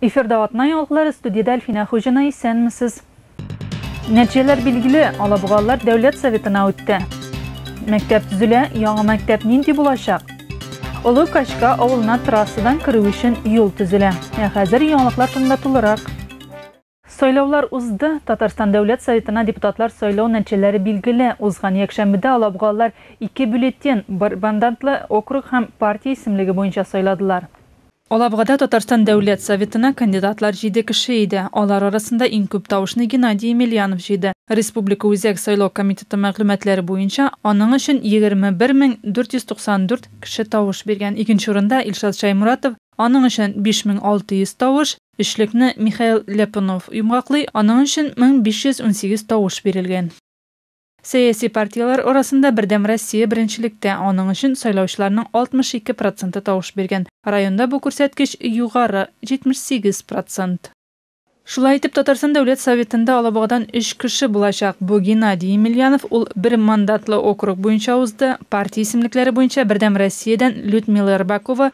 Эфирда атна яңгылары студияда Әлфинә Хуҗина исәнмесез. Нәтиҗәләр билгеле, Алабугалылар дәүләт советына үтте. Мәктәп төзелә, яңа мәктәп нинди булачак? Олы Качка авылына трассадан керү өчен юл төзелә. Ә хәзер яңалыклар турында тулырак. Сайлаулар узды, Татарстан Дәүләт Советына депутатлар сайлау нәтиҗәләре билгеле. Узган якшәмбедә алабугалылар ике бюллетен, бер мандат-лы округ һәм партия исемлеге буенча сайладылар. Алабугада Татарстан Дәүләт Советына кандидатлар җиде кеше иде. Алар арасында иң күп тавышны Геннадий Емельянов җыйды. Республика Үзәк сайлау комитеты мәгълүматлары буенча, аның өчен 21 мең 494 кеше тавыш биргән. Икенче урында Илшат Шәйморатов, аның өчен 5 мең 600 тавыш, Өчлекне Михаил Ляпунов йомгаклый, аның өчен 1518 тавыш бирелгән. Сәяси партияләр арасында Бердәм Россия беренчелектә, аның өчен сайлаучыларның 62 проценты тавыш биргән. Районда бу күрсәткеч югары, 78 процент. Шулай итеп, Татарстан Дәүләт Советында Алабугадан өч кеше булачак. Бу Геннадий Емельянов, ул бер мандатлы округ буенча узды, партия исемлекләре буенча Бердәм Россиядән Людмила Рыбакова,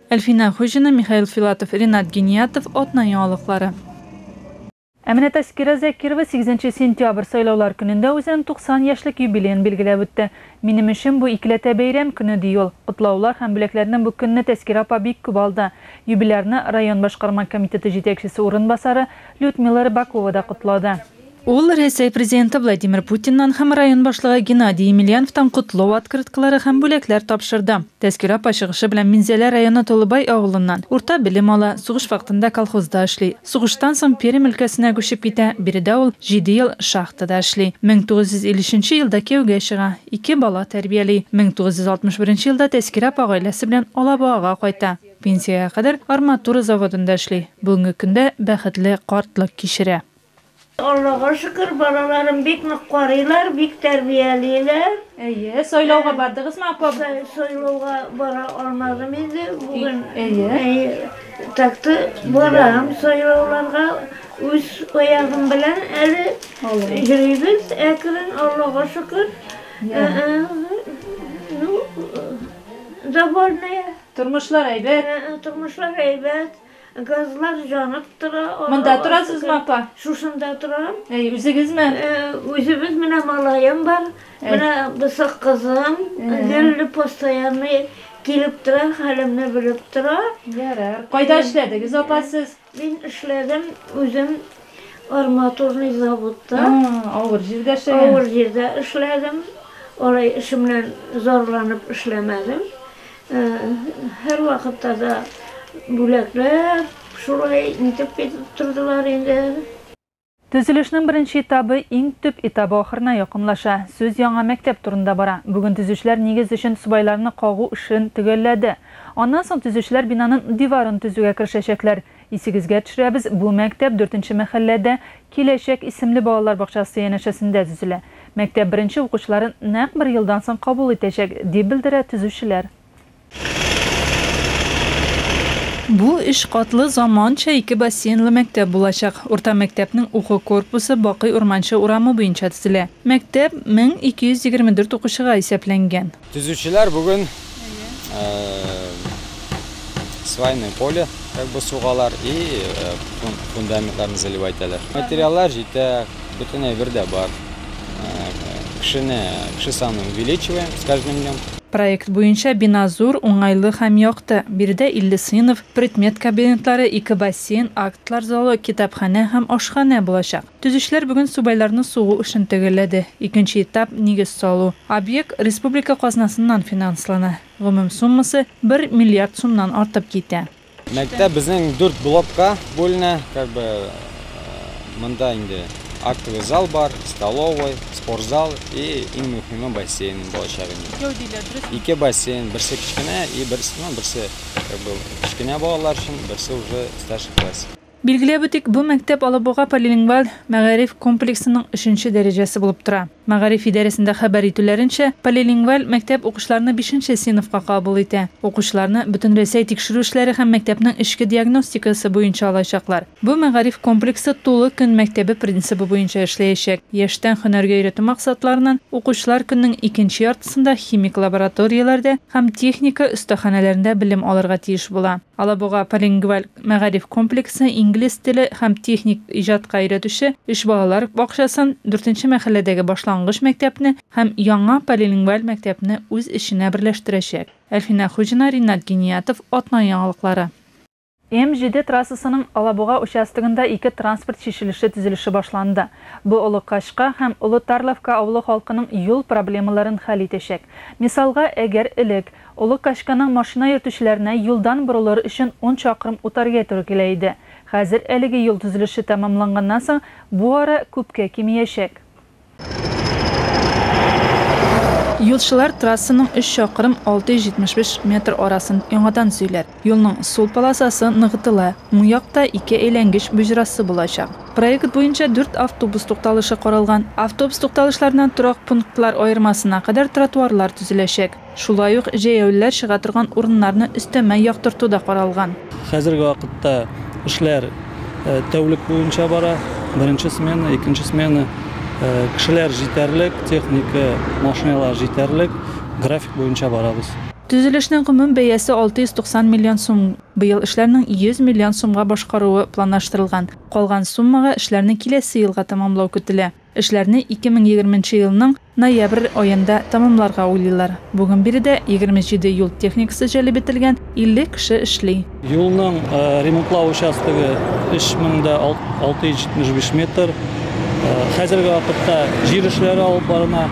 Әлфинә Хуҗина, Михаил Филатов, Ренат Гиниятов, Атна яңалыклары. Ә менә Тәскирә Закирова сигезенче сентябрь, сайлаулар көнендә үзенең 90 яшьлек юбилеен билгеләп үтте. Минем өчен бу икеләтә бәйрәм көне, ди ул. Котлаулар һәм бүләкләрне бу көнне Тәскирә апа бик күп алды. Юбилярны район башкарма комитеты җитәкчесе урынбасары Людмила Рыбакова да котлады. Ул Рәсәй президенты Владимир Путиннан һәм район башлыгы Геннадий Емельяновтан котлау открыткалары һәм бүләкләр тапшырды. Тәзкирә апа чыгышы белән Минзәлә районы Толыбай авылыннан. Урта белем ала, сугыш вакытында колхозда эшли. Сугыштан соң Пермь өлкәсенә күчеп китә, биредә ул җиде ел шахтада эшли. 1953 елда кияүгә чыга, ике бала тәрбияли. 1961 елда Тәзкирә апа гаиләсе белән Алабугага кайта. Пенсиягә кадәр арматура заводында эшли, бүгенге көндә бәхетле картлык кичерә. Аллага шөкер, балаларым бик нык карыйлар, бик тәрбиялиләр. Әйе, сайлауга бардыгызмы, апа? Сайлауга бара алмадым инде бүген. Әйе. Так-то барам сайлауларга, үз аягым белән әле йөрибез әкрен, Аллага шөкер. Ну, довольная. Тормышлар әйбәт? Тормышлар әйбәт. Газлар җанып тора. Монда торасызмы, апа? Шушында торам. Әй, үзегезме? Үзебез менә малаем бар. Менә бысак кызым. Гелле постоянный килеп тора, хәлемне белеп тора. Ярар. Кайда эшләдегез, апа, сез? Мин эшләдем үзем Арматурный заводта. Авыр җирдә эшләгән. Авыр җирдә эшләдем. Алай эшемнән зарланып эшләмәдем. Һәр вакытта да бүләкләр шулай итеп китеп тордылар инде. Төзелешнең беренче этабы иң төп этабы ахырына якынлаша. Сүз яңа мәктәп турында бара. Бүген төзүчеләр нигез өчен субайларны кагу эшен төгәлләде. Аннан соң төзүчеләр бинанын диварын төзүгә керешәчәкләр. Исегезгә төшерәбез, бу мәктәп дүртенче мәхәлләдә Киләчәк исемле балалар бакчасы янәшәсендә төзелә. Мәктәп беренче укучыларын нәкъ бер елдан соң кабул итәчәк, дип белдерә төзүчеләр. Бу өч катлы заманча ике бассейнлы мәктәп булачак. Урта мәктәпнең уку корпусы Бакый Урманче урамы буенча төзелә. Мәктәп 1224 укучыга исәпләнгән. Төзүчеләр бүген свайное поле как бы сугалар и фундаментларны заливать итәләр. Материаллар җитә, бөтен әйбер дә бар. Кешене, кеше санын увеличиваем с каждым днем. Проект буенча бина зур, уңайлы һәм якты. Биредә 50 сыйныф, предмет кабинетлары, ике бассейн, актлар залы, китапханә һәм ашханә булачак. Төзүчеләр бүген субайларны сугу эшен төгәлләде. Икенче этап, нигез салу. Объект республика казнасыннан финанслана. Гомум суммасы, бер миллиард сумнан артып китә. Мәктәп безнең дүрт блокка бүленә, как бы монда инде актовый зал бар, столовый, спортзал и иң мөхиме бассейн булачак инде. Икәү диләр, дөресме? Ике бассейн, берсе кечкенә и берсе, ну берсе как бы кечкенә балалар өчен, берсе уже старший классик. Билгеләп үтик, бу мәктәп Алабуга полилингваль мәгариф комплексының өченче дәрәҗәсе булып тора. Мәгариф идарәсендә хәбәр итүләренчә, полилингваль мәктәп укучыларны бишенче сыйныфка кабул итә. Укучыларны Бөтенрәсәй тикшерү эшләре һәм мәктәпнең эчке диагностикасы буенча алачаклар. Бу мәгариф комплексы тулы көн мәктәбе принцибы буенча эшләячәк. Яшьтән хөнәргә өйрәтү максатларыннан укучылар көннең икенче яртысында химик лабораторияләрдә һәм техника өстаханәләрендә белем алырга тиеш була. Алабуга полилингваль Мәгариф комплексы инглиз теле һәм техник иҗатка өйрәтүче өч балалар бакчасын, дүртенче мәхәлләдәге башлангыч мәктәпне һәм яңа полилингваль мәктәпне үз эченә берләштерәчәк. Әлфинә Хуҗина, Ринат Гиниятов, Атна яңалыклары. М-7 трассасының Алабуга участогында ике транспорт чишелеше төзелеше башланды. Бу Олы Качка һәм Олы Тарловка авылы халкының юл проблемаларын хәл итәчәк. Мисалга, әгәр элек, Олы Качканың машина йөртүчеләренә юлдан борылыр өчен ун чакрым үтәргә туры килә иде. Хәзер әлеге юл төзелеше тәмамланганнан соң бу ара күпкә кимиячәк. Юлчылар трассаның өч чакрым, 675 метр арасын яңадан төзиләр. Юлның сул полосасы ныгытыла, уң якта ике әйләнгеч боҗрасы булачак. Проект буенча дүрт автобус тукталышы каралган. Автобус тукталышларыннан торак пунктлар аермасына кадәр тротуарлар төзеләчәк. Шулай ук җәяүлеләр чыга торган урыннарны өстәмә яктырту да каралган. Хәзерге вакытта эшләр тәүлек буенча бара. Беренче смена, икенче смена. Кешеләр җитәрлек, техника, машиналар җитәрлек. График буенча барабыз. Төзелешнең гомум бәясе 690 миллион сум. Быел эшләрнең 100 миллион сумга башкаруы планлаштырылган. Калган суммага эшләрне киләсе елга тәмамлау көтелә. Эшләрне 2020 нче елның ноябрь аенда тәмамларга уйлыйлар. Бүген биредә 27 юл техникасы җәлеп ителгән, 50 кеше эшли. Юлның ремонтлау участогы 3675 метр. Хәзерге вакытта җир эшләре алып барына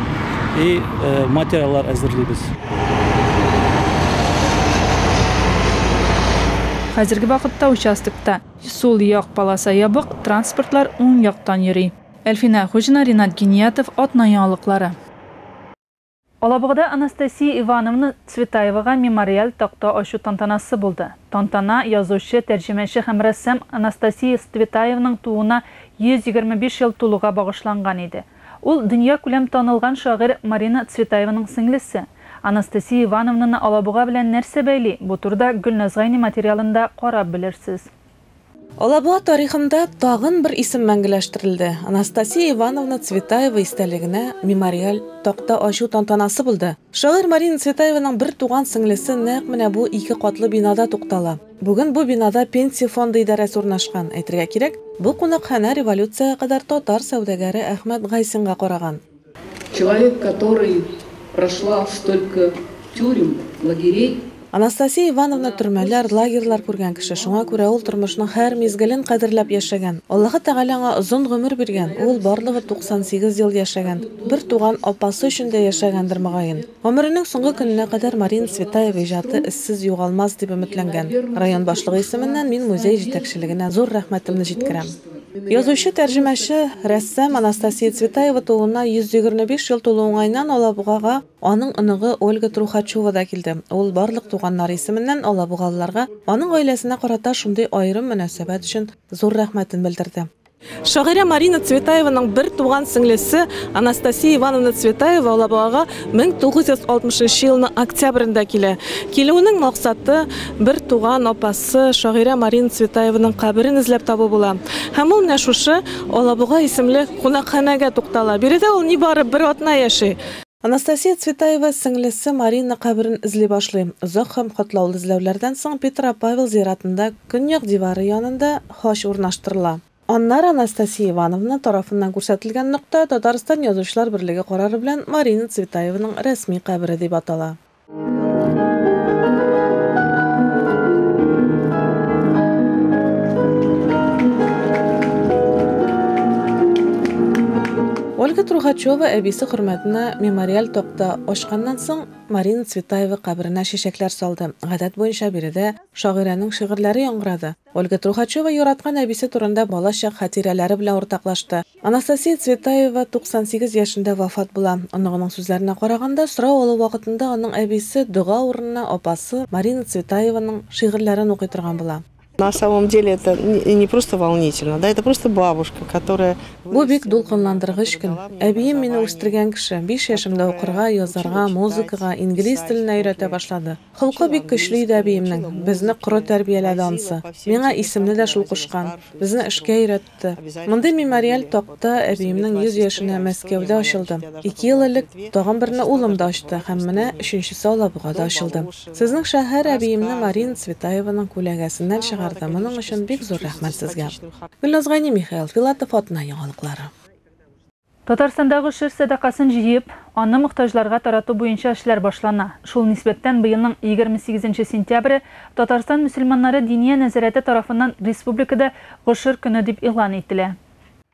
и материаллар әзерлибез. Хәзерге вакытта участокта сул як полоса ябык, транспортлар уң яктан йөри. Әлфинә Хуҗина, Ринат Гиниятов, Атна яңалыклары. Алабугада Анастасия Ивановна Цветаевага мемориаль такта ачу тантанасы булды. Тантана язучы, тәрҗемәче һәм рәссам Анастасия Цветаевның тууына 125 ел тулуга багышланган иде. Ул, дөньякүләм танылган шагыйрь Марина Цветаеваның сеңлесе. Анастасия Ивановнаны Алабуга белән нәрсә бәйли, бу турыда Гөлназ Гайни материалында карап белерсез. Алабуга тарихында тагын бер исем мәңгеләштерелде, Анастасия Ивановна Цветаева истәлегенә мемориаль такта ачу тантанасы булды. Шагыйрь Марина Цветаеваның бер туган сеңлесе нәкъ менә бу ике катлы бинада туктала. Бүген бу бинада Пенсия фонды идарәсе урнашкан. Әйтергә кирәк, бу кунакханә революциягә кадәр татар сәүдәгәре Әхмәт Гайсинга караган. Человек который прошла столько тюрем лагерей. Анастасия Ивановна төрмәләр, лагерьлар күргән кеше, шуңа күрә ул тормышның һәр мизгелен кадерләп яшәгән. Аллаһы Тәгалә аңа озын гомер биргән, ул барлыгы 98 ел яшәгән, бер туган апасы өчен дә яшәгәндер мөгаен. Гомеренең соңгы көненә кадәр Марина Цветаева иҗаты эзсез югалмас дип өметләнгән. Район башлыгы исеменнән мин музей җитәкчелегенә зур рәхмәтемне җиткерәм. Язучы-тәрҗемәче, рәссам Анастасия Цветаева тууына 125 ел тулу уңаеннан Алабугага аның оныгы Ольга Трухачева да килде. Ул барлык туганнары исеменнән алабугалыларга аның гаиләсенә карата шундый аерым мөнәсәбәт өчен зур рәхмәтен белдерде. Шагыйрә Марина Цветаеваның бер туган сеңлесе Анастасия Ивановна Цветаева Алабугага 1960 нчы елның октябрендә килә. Килүенең максаты, бер туган апасы, Укытучысы, шагыйрә Марина Цветаеваның каберен эзләп табу була. Һәм ул менә шушы Алабуга исемле кунакханәгә туктала. Биредә ул нибары бер атна яши. Анастасия Цветаева сеңлесе Марина каберен эзли башлый. Озак һәм катлаулы эзләүләрдән соң Петропавел зиратында, көньяк дивары янында хач урнаштырыла. Аннары Анастасия Ивановна тарафыннан күрсәтелгән нокта Татарстан Язучылар берлеге карары белән Марина Цветаеваның рәсми кабере дип атала. Ольга Трухачева әбисе хөрмәтенә мемориаль токта ачканнан соң Марина Цветаева каберенә чәчәкләр салды. Гадәт буенча биредә шагыйрәнең шигырьләре яңгырады. Ольга Трухачева яраткан әбисе турында балачак хатирәләре белән уртаклашты. Анастасия Цветаева 98 яшендә вафат була. Оныгының сүзләренә караганда, сорау алу вакытында аның әбисе дога урынына апасы Марина Цветаеваның шигырьләрен укый торган була. На самом деле это не просто волнительно, да, это просто бабушка, которая Бу бик дулкынландыргыч көн. Әбием мине үстергән кеше, биш яшемдә укырга, язарга, музыкага, инглиз теленә өйрәтә башлады. Холкы бик көчле иде әбиемнең, безне коры тәрбияләде ансы. Миңа исемне дә шул кушкан, безне эшкә өйрәтте. Мондый мемориаль такта әбиемнең 100 яшенә Мәскәүдә ачылды. Ике ел элек тагын берне улым да ачты һәм менә өченчесе Алабугада ачылды. Сезнең шәһәр әбиемне Марина Цветаеваның күләгәсеннән чыгарды, моның өчен бик зур рәхмәт сезгә. Гөлназ Гайни, Михаил Филатов атна яңалыклары. Татарстанда гошер сәдакасын җыеп, аны мохтаҗларга тарату буенча эшләр башлана. Шул нисбәттән быелның егерме сигезенче сентябре Татарстан мөселманнары Диния нәзарәте тарафыннан республикада гошер көне дип игълан ителә.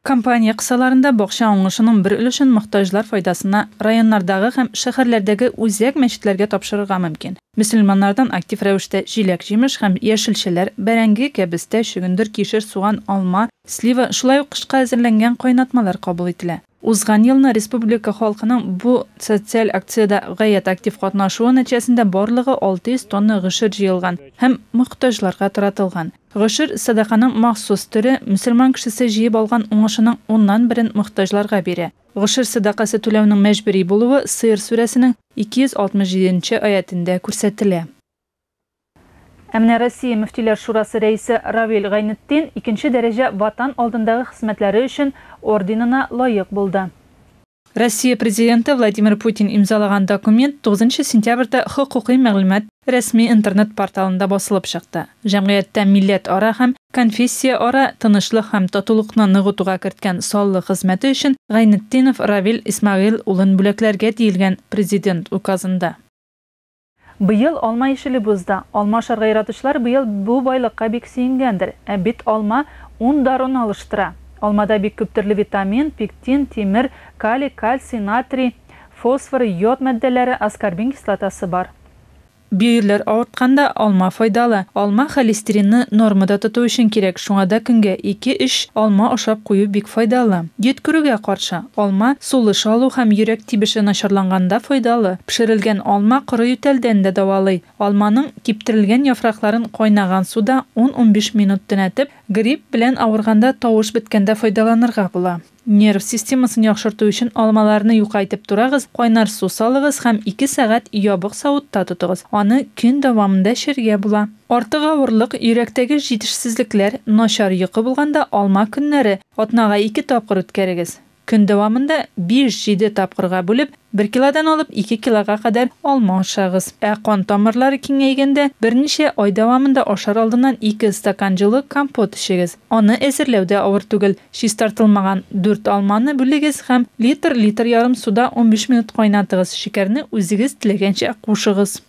Кампания кысаларында бакча уңышының бер өлешен мохтаҗлар файдасына районнардагы һәм шәһәрләрдәге үзәк мәчетләргә тапшырырга мөмкин. Мөселманнардан актив рәвештә җиләк-җимеш һәм яшелчәләр, бәрәңге, кәбестә, чөгендер, кишер, суган, алма, слива, шулай ук кышка әзерләнгән кайнатмалар кабул ителә. Узган елны республика халкының бу социаль акциядә гаять актив катнашуы нәтиҗәсендә барлыгы 600 тонна гошер җыелган һәм мохтаҗларга таратылган. Гошер, сәдаканың махсус төре, мөселман кешесе җыеп алган уңышының уннан берен мохтаҗларга бирә. Гошер сәдакасы түләүнең мәҗбүри булуы Сыер сүрәсенең 267 нче аятендә күрсәтелә. Ә менә Россия мөфтиләр шурасы рәисе Равил Гайнетдин икенче дәрәҗә Ватан алдындагы хезмәтләре өчен орденына лаек булды. Россия Президенты Владимир Путин имзалаган документ тугызынчы сентябрьдә хокукый мәгълүмат рәсми интернет-порталында басылып чыкты. Җәмгыятьтә милләтара һәм Конфессияара тынычлык һәм татулыкны ныгытуга керткән саллы хезмәте өчен Гайнетдинов Равил Исмәгыйль улын бүләкләргә диелгән Президент Указында. Быел алма ишелеп бозда. Алма ашарга яратучылар быел бу байлыкка бик сөенгәндер. Ә бит алма ун даруны алыштыра. Алмада бик күп төрле витамин, пектин, тимер, калий, кальций, натрий, фосфор, йод матдәләре, аскорбин кислотасы бар. Бөерләр авыртканда алма файдалы. Алма холестеринны нормада тоту өчен кирәк, шуңа да көнгә ике-өч алма ашап кую бик файдалы. Йөткерүгә каршы, алма сулыш алу һәм йөрәк тибеше начарланганда файдалы. Пешерелгән алма коры ютәлдән дә давалый. Алманың киптерелгән яфракларын кайнаган суда ун-унбиш минут төнәтеп, грипп белән авырганда тавыш беткәндә файдаланырга була. Нерв системасын яхшырту өчен алмаларны юка итеп турагыз, кайнар су салыгыз һәм ике сәгать ябык савытта тотыгыз. Аны көн дәвамында эчәргә була. Артык авырлык, йөрәктәге җитешсезлекләр, начар йокы булганда алма көннәре атнага ике тапкыр үткәрегез. Көн дәвамында биш-җиде тапкырга бүлеп, Бер килодан алып ике килога кадәр алма ашагыз. Ә кан тамырлары киңәйгәндә, берничә ай дәвамында ашар алдыннан ике стакан җылы компот эчегез. Аны әзерләү дә авыр түгел. Чистартылмаган дүрт алманы бүлегез һәм литр, литр ярым суда унбиш минут кайнатыгыз, шикәрне үзегез теләгәнчә кушыгыз.